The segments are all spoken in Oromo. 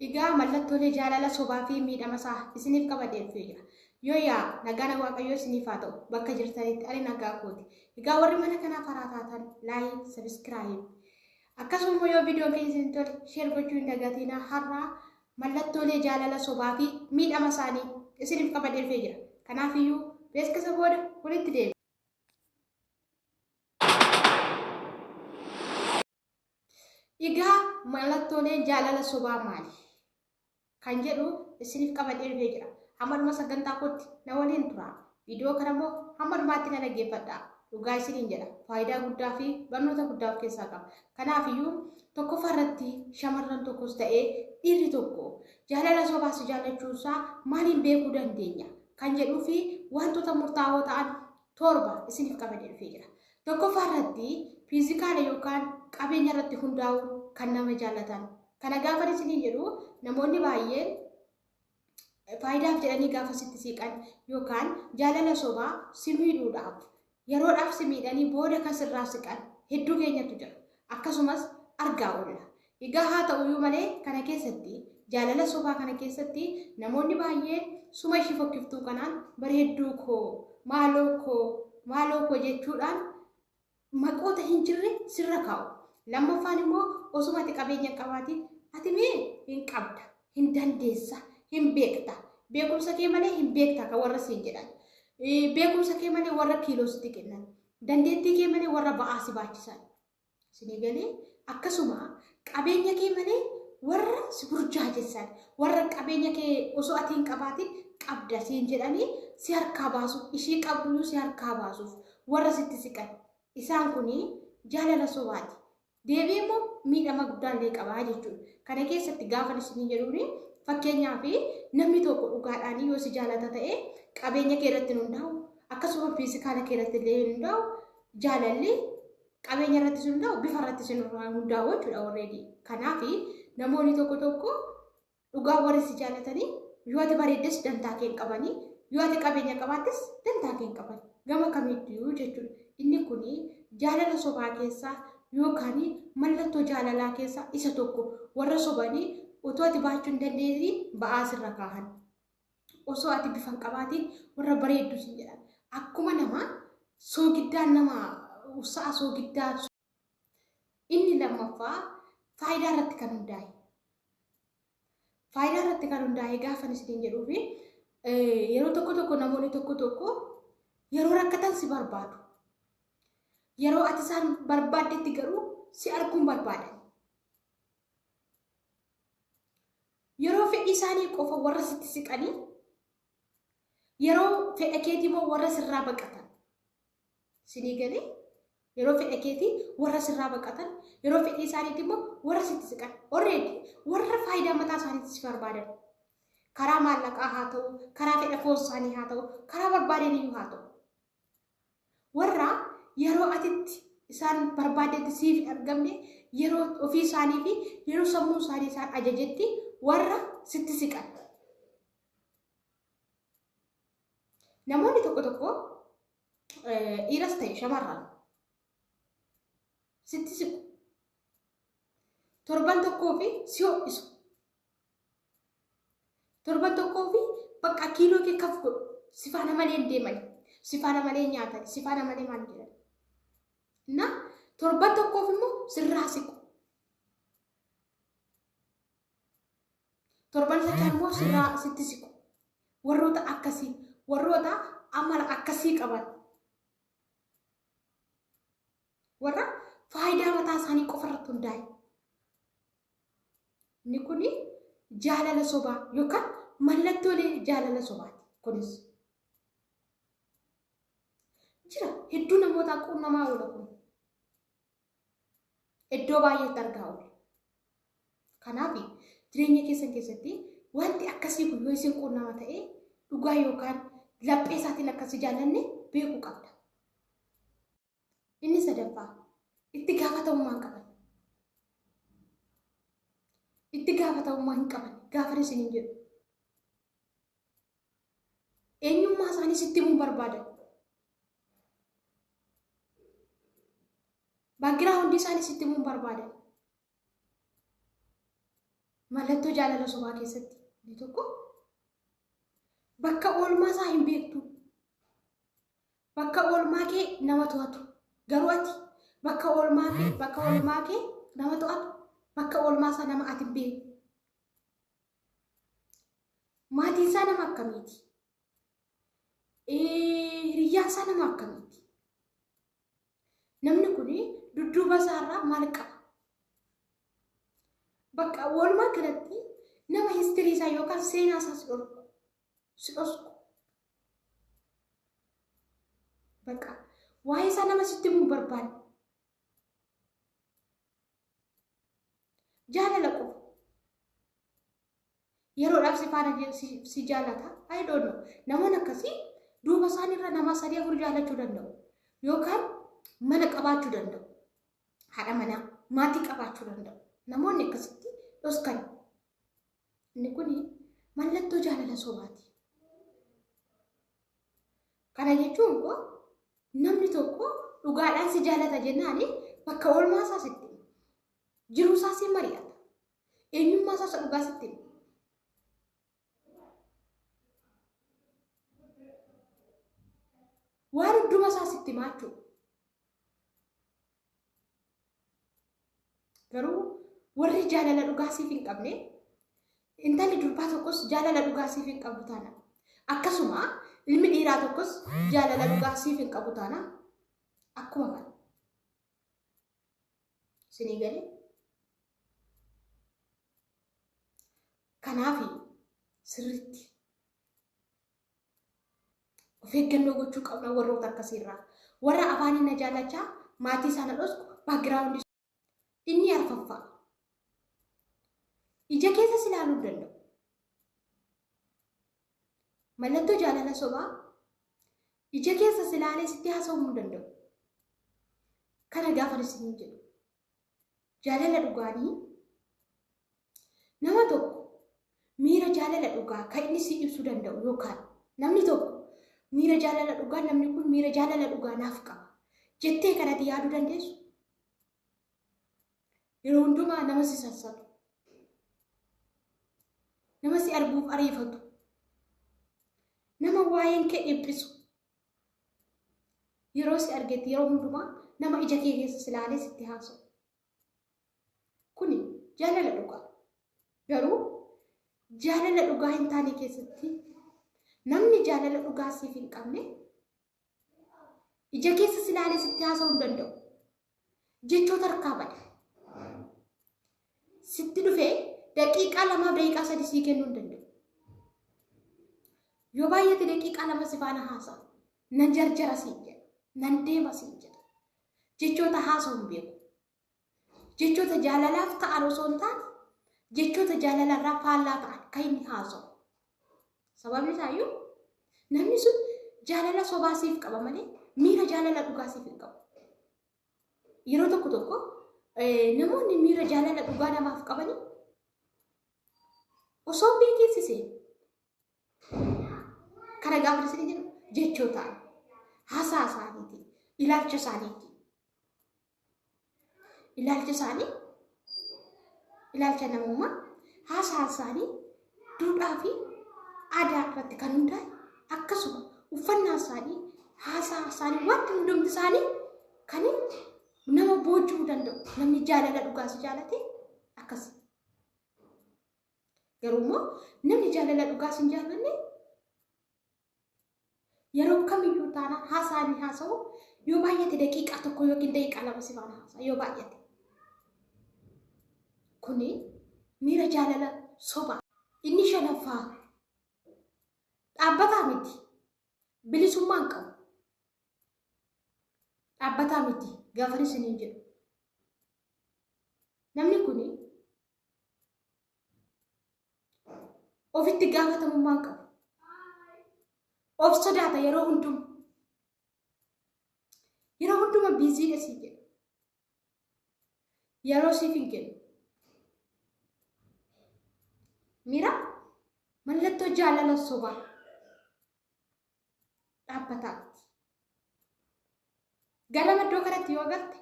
Egaa mallattoolee jaalala sobaa fi miidhama isaa isiniif qabadhee dhufee jira. Yoo yaa nagaan waaqayyoo isiniif haa ta'u bakka jirtanitti ani nagaa kooti. Egaa warri mana kanaaf haraa taatan laayik, sabiskiraayib. Akkasuma immoo yoo viidiyoon keenya isin tole sheer gochuu hin dagatinaa har'aa mallattoolee jaalala sobaa fi miidhama isaanii isiniif qabadhee dhufee jira. Kanaaf iyyuu beeksisa booda walitti deebi'a. Egaa mallattooleen jaalala sobaa maali? Kan jedhu isiniif qabadhee dhufee jira. Hamma dhuma sagantaa kootti na waliin tura. Viidiyoo kana immoo hamma dhumaatti na dhaggeeffadha. Dhugaa isiniin jedha. Faayidaa guddaa fi barnoota guddaa of keessaa qaba. Kanaafiyyuu tokkoffaa irratti shamarran tokkos ta'ee dhiirri tokko jaalala sobaa si jaallachuunsaa maaliin beekuu dandeenya? Kan jedhuu fi wantoota murtaa'oo ta'an torba isiniif qabadee dhufee jira. Tokkoffaa irratti fiizikaala yookaan qabeenya irratti hundaa'u kan nama jaallatan. Kana gaafa isiniin jedhu namoonni baay'een faayidaaf jedhanii gaafa sitti siiqan yookaan jaalala sobaa si miidhuudhaaf yeroodhaaf si miidhanii booda kan sirraa siqan hedduu keenyatu jira. Akkasumas argaa oolla. Egaa haa ta'u iyyuu malee kana keessatti, jaalala sobaa kana keessatti namoonni baay'een suma ishii fokkiftuu kanaan bareedduu koo, maaloo koo, maaloo koo jechuudhaan maqoota hin jirre sirra kaa'u. Lammaffaan immoo osuma ati qabeenya hin qabaatiin ati mee hin qabda, hin dandeessa, hin beekta, beekumsa kee malee hin beekta kan warra siin jedhan. Beekumsa kee malee warra kiiloo sitti kennan. Dandeettii kee malee warra ba'aa si baachisan. Isinii galee? Akkasuma qabeenya kee malee warra si burjaajessan, warra qabeenya kee osoo ati hin qabaatin qabda siin jedhanii si harkaa baasuuf, ishii qabduyyuu si harkaa baasuuf warra sitti siqan. Isaan kun jaalala sobaati. Deebi'ee immoo miidhama guddaallee qaba jechuudha. Kana keessatti gaafan isinii jedhuuni fakkeenyaaf namni tokko dhugaadhaan yoo si jaalata ta'e qabeenya kee irratti hin hundaa'u akkasuma fiizikaala kee irratti illee hin hundaa'u jaalalli qabeenya irratti sun ta'u bifa irratti sun hundaa'u jechuudha already. Kanaaf namoonni tokko tokko dhugaa warri si jaallatanii yoo ati bareeddes dantaa kee hin qabani yoo ati qabeenya qabaattes dantaa kee hin qabani gama kamiiyyuu jechuudha. Inni kun jaalala sobaa keessaa yookaan mallattoo jaalalaa keessaa isa tokko warra sobanii otoo ati baachuu hin dandeenye ba'aa sirra kaahan. osoo ati bifa hin qabaatiin warra bareeddu siin jedhan akkuma nama soogiddaa nama sa'a soogiddaa inni lammaffaa faayidaa irratti kan hundaa'e faayidaa irratti kan hundaa'e gaafa isiniin jedhuu fi yeroo tokko tokko namoonni tokko tokko yeroo rakkatan si barbaadu yeroo ati isaan barbaaddetti garuu si arguun barbaadan yeroo fedhii isaanii qofa warra sitti siqanii yeroo fedha keetii immoo warra sirraa baqatan sinii galee yeroo fedha keetii warra sirraa baqatan yeroo fedhii isaaniitti immoo warra sitti siqan orreedi warra faayidaa mataa isaaniitti si barbaadan karaa maallaqaa haa ta'u karaa fedha foon isaanii haa ta'u karaa barbaadaniyyuu haa ta'u Warra yeroo atitti isaan barbaaddetti siif hin argamne yeroo ofii isaanii fi yeroo sammuu isaanii isaan ajajetti warra sitti siqan. Namoonni tokko tokko dhiiras ta'e shamarran sitti siqu. Torban tokkoo fi si ho'isu. Torban tokkoo fi bakka kiiloo kee kaf godhu sifaana malee hin deeman sifaana malee nyaatan sifaana malee maal jedhan. Na torban tokkoof immoo sirraa siqu. Torban sadii immoo sirraa sitti siqu. Warroota akkasii warroota amala akkasii qaban warra faayidaa mataa isaanii qofa irratti hundaa'e. Inni kun jaalala sobaa yookaan mallattoolee jaalala sobaati. Kunis jira hedduu namootaa quunnamaa oola kun iddoo baay'eetti argaa oola. Kanaaf jireenya keessan keessatti wanti akkasii kun yoo isin quunnama ta'e dhugaa yookaan laphee isaatiin akkasii jaallanne beekuu qabda. Inni sadaffaa itti gaafatamummaa hin qaban. Itti gaafatamummaa hin qaban gaafa isin hin jedhu. Eenyummaa isaanii sitti himuu barbaadan. Baaggiraa hundi isaanii sitti himuu barbaadan. Mallattoo jaalala sobaa keessatti inni tokko bakka oolmaa isaa hin beektu. Bakka oolmaa kee nama to'atu. Garuu ati bakka oolmaa kee bakka oolmaa kee nama to'atu. Bakka oolmaa isaa nama ati hin beekne. Maatiin isaa nama akkamiiti? Eh, Hiriyyaan isaa nama akkamiiti? Namni kun dudduuba isaarraa maal qaba? Bakka oolmaa kanatti nama histirii isaa yookaan seenaa isaas dhorku. si dhosku. Bakka waa'ee isaa nama sitti himuu hin barbaanne. Jaalala qofa. Yeroodhaaf si faana je- si- si jaalata. I don't know. Namoonni akkasii duuba isaaniirra nama sadii afur jaalachuu danda'u. Yookaan mana qabaachuu danda'u. Haadha manaa maatii qabaachuu danda'u. Namoonni akkasitti dhoskan Inni kun mallattoo jaalala sobaati. Kana jechuun koo namni tokko dhugaadhaan si jaalata jennaan bakka oolmaa isaas itti hima. Jiruu isaa siin mari'ata. Eenyummaa isaa isa dhugaas itti hima. Waan hunduma isaas itti himaa jechuudha. Garuu warri jaalala dhugaa siif hin qabne intalli durbaa tokkos jaalala dhugaa siif hin qabu taana. Akkasuma ilmi dhiiraa tokkos jaalala dhugaa siif hin qabu taana. Akkuma kana. Isinii galee? Kanaafi sirriitti Of eeggannoo gochuu qabna warroota akkasii irraa. Warra afaanii na jaalachaa maatii isaa na dhosku background inni arfaffaa. Ija keessa si ilaaluu hin danda'u. Mallattoo jaalala sobaa ija keessa si ilaalee sitti haasa'uu hin danda'u. Kana gaafa isin jedhu. Jaalala dhugaanii Nama tokko miira jaalala dhugaa kan inni si ibsuu danda'u yookaan namni tokko miira jaalala dhugaa namni kun miira jaalala dhugaa naaf qaba jettee kan ati yaaduu dandeessu yeroo hundumaa nama si sassatu nama si arguuf ariifatu nama waa'een kee dhiphisu yeroo si argetti yeroo hundumaa nama ija kee keessa si ilaalee sitti haasa'u Kuni jaalala dhugaa. Garuu jaalala dhugaa hin taane keessatti namni jaalala dhugaa siif hin qabne ija keessa si ilaalee sitti haasa'uu hin danda'u. Jechoota harkaa bada. Sitti dhufee daqiiqaa lamaa daqiiqaa sadii sii kennuu hin danda'u. Yoo baay'ate daqiiqaa lama si faana haasa'a. Nan jarjara siin jedha. Nan deema siin jedha. Jechoota haasa'u hin beeku. Jechoota jaalalaaf ta'an osoo hin taane jechoota jaalalarraa faallaa ta'an kan inni haasa'u. Sababni isaayyuu namni sun jaalala sobaa siif qaba malee miira jaalala dhugaa siif hin qabu. Yeroo tokko tokko eh, namoonni miira jaalala dhugaa namaaf qabanii osoo beekinsisee Kana gaafa isin jedhu jechoota haasaa isaaniiti, ilaalcha isaaniiti. Ilaalcha isaanii, ilaalcha namummaa, haasaa isaanii duudhaa fi aadaa irratti kan hundaa'e akkasuma uffannaa isaanii, haasaa isaanii, wanti hundumti isaanii kan nama boojuu danda'u namni jaalala dhugaas jaalate akkasi. Garuu immoo namni jaalala dhugaa sin jaallanne yeroo kamiyyuu taana haasaa ni haasa'u yoo baay'ate daqiiqaa tokko yookiin daqiiqaa lama si faana haasa'a yoo baay'ate. Kuni miira jaalala soba. Inni shanaffaa dhaabbataa miti bilisummaan qabu. Dhaabbataa miti gaafan isiniin jedhu. Namni kuni ofitti gaafatamummaa hin qabu. Of sodaata yeroo hunduma. Yeroo hunduma biiziidha siin jedha. Yeroo siif hin kennu. Mira mallattoo jaalala sobaa dhaabbataatti. Ganama iddoo kanatti yoo galte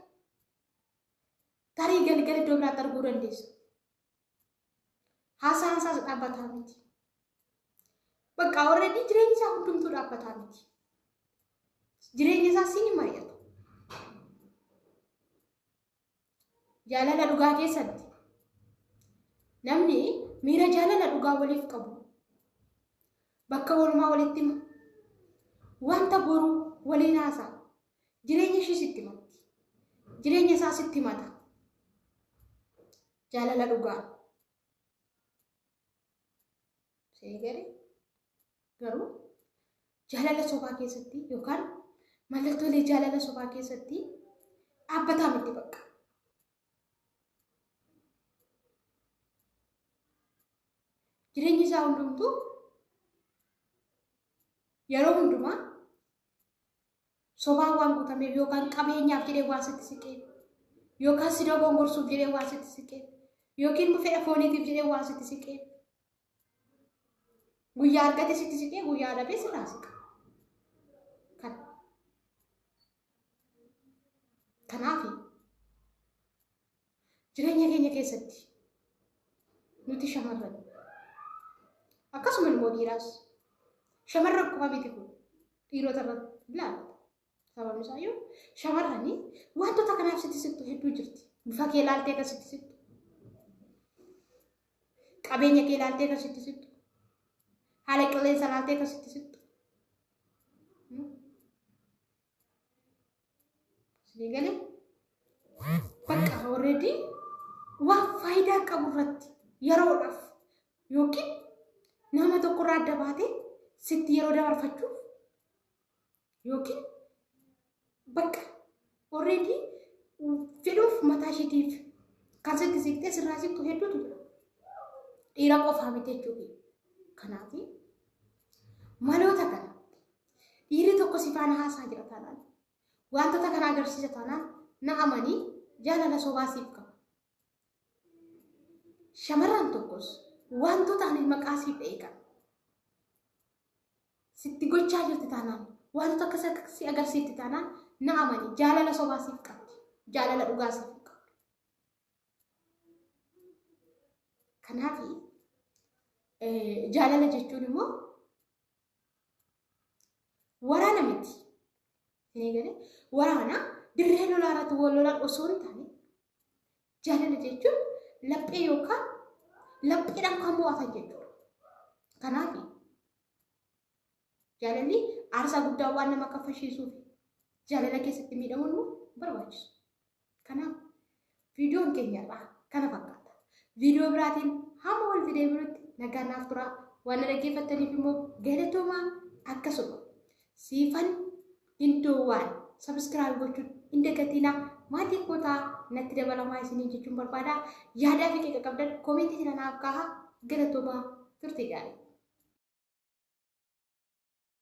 Tarii galgala iddoo biraatti arguu dandeessa. Haasaan isaas dhaabbataa miti. Bakka already jireenyi isaa hundumtuu dhaabbataa miti. Jireenya isaa siin hin mari'atu. Jaalala dhugaa keessatti namni miira jaalala dhugaa waliif qabu bakka walumaa walitti hima. Wanta boruu waliin haasaa. Jireenya ishii sitti himatti. Jireenya isaa sitti himata. Jaalala dhugaa. Ishee gadi garuu jaalala sobaa keessatti yookaan mallattoolee jaalala sobaa keessatti dhaabbataa miti bakka. Jireenyi isaa hundumtuu yeroo hundumaa Sobaan waan gutameef yookaan qabeenyaaf jedhee waan sitti siqee yookaan si dogongorsuuf jedhee waan sitti siqee yookiin immoo fedha fooniitiif jedhee waan sitti siqee guyyaa argate sitti siqee guyyaa dhabee sirraa siqa. Kan. Kanaaf Jireenya keenya keessatti nuti shamarran akkasuma immoo dhiiraas shamarran qofa miti kun dhiirota irratti ilaala. Sababni isaa yoo shamarran wantoota kanaaf sitti sittu hedduu jirti. Bifa kee ilaaltee kan sitti sittu. Qabeenya kee ilaaltee kan sitti sittu. Haala qilleensa ilaaltee kan sitti sittu. Isinii galee? Bakka already waan faayidaa qabu irratti yeroodhaaf yookiin nama tokkorraa adda baatee sitti yeroo dabarfachuuf yookiin bakka already fedhuuf mataa ishiitiif kan sitti siqtee sirraa siqtu hedduutu jira. Dhiira qofaa miti jechuudha. Kanaaf maloota kana Dhiirri tokko si faana haasaa jira taanaan, wantoota kana agarsiisa taanaan na amanii jaalala sobaa siif qaba. Shamarran tokkos wantoota ani maqaa siif dha'e kana sitti gochaa jirti taanaan, wantoota akkas akka si agarsiifti taanaan na amanii jaalala sobaa siif qabdi. Jaalala dhugaa siif hin qabdu. Kanaaf jaalala jechuun immoo Waraana miti. Hin eegale. Waraana dirree lolaa irratti wal lolan osoo hin taane jaalala jechuun laphee yookaan lapheedhaan kan mo'atan jechuudha. Kanaaf jaalalli aarsaa guddaa waan nama kaffalchiisuuf jaalala keessatti miidhamuun nu barbaachisu. Kanaaf viidiyoon keenya irraa kana fakkaata. Viidiyoo biraatiin hamma walitti deebinutti nagaa naaf turaa. Waan na dhaggeeffattaniif immoo galatoomaa akkasuma siifan hindoowwaan sabiskiraayib gochuun hin dagatiinaa maatii kootaa natti dabalamaa isiniin jechuun barbaada. Yaadaa fi qeeqa qabdan koomentii jala naaf kaahaa galatoomaa turtii gaarii.